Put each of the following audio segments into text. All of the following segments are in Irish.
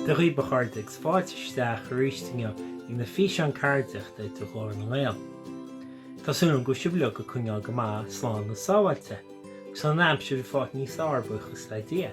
Dia dhaoibh a chairde agus fáilte isteach arís inniu ag na físeáin ceardaíochta de Ghlór na nGael. Tá súil agam go bhfuil sibh uilig ag coinneáil go maith, slán agus sábháilte, agus an aimsir ag fáilt níos fearr buíochas le Dia.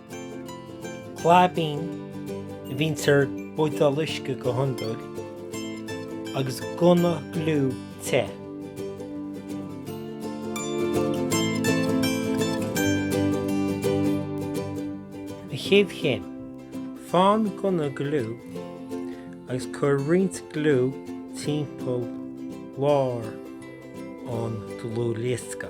claibín a bhíonns ar bhuideál uisce go hiondúil agus gunna gliú te. An chéad chéim. Faigh an gunna gliú agus cuir roinnt gliú timpeall lár an dlúthdhiosca.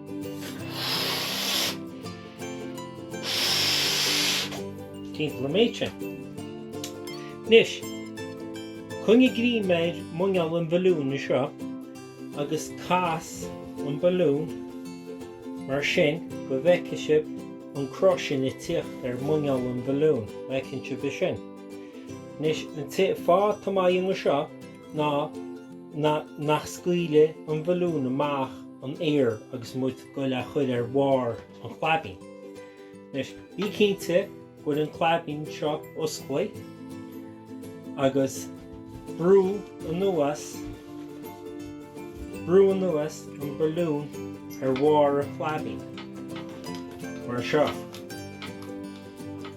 timpeall an méid sin. Anois, coinnigh greim ar muineál an bhalúin seo agus cas an balún mar sin go bhfeice sib an cruth sin ag tíocht ar muineál an bhalún, an bhfeiceann sib é sin. Anois, an fáth tá muid ag déanamh seo, ná nach scaoilfidh an balún amach an aer agus muid ag goil é a chur ar bharr an chlaibín. Anois, bí cinnte go bhfuil an claibín seo osclaí agus brú anuas an balún ar bharr an chlaibín, mar seo.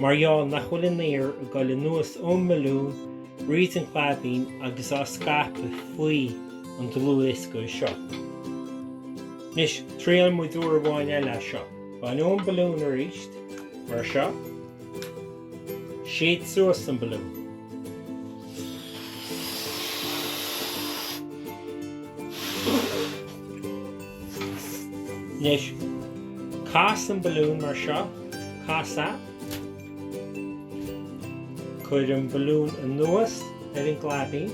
Mar gheall nach bhfuil an aer ag dul anuas ón mbalún, thríd an gclaibín agus á scaipeadh faoi an dlúthdhiosca seo. Anois, triailfidh muid uair amháin eile é seo. Bain an balún arís, mar seo. Séid suas an balún. Anois, cas an balún mar seo, cas é. Cuir an balún anuas ar an gclaibín.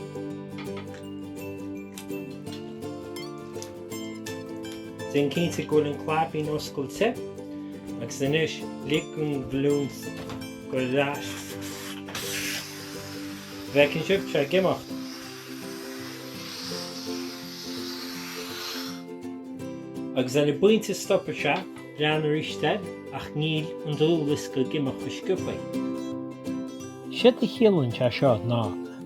Déan cinnte go bhfuil an claibín oscailte agus anois lig an balún go. An bhfeiceann sibh é ag imeacht. Agus ar an bpointe stopfaidh sé lean arís air, ach níl an dlúthdhiosca ag imeacht go sciobtha. Séard a chiallaíonn sé seo ná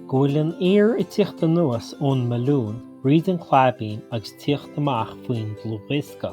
go bhfuil an aer ag tíocht anuas ón mbalún, thríd an claibín agus tíocht amach faoin dlúthdhiosca.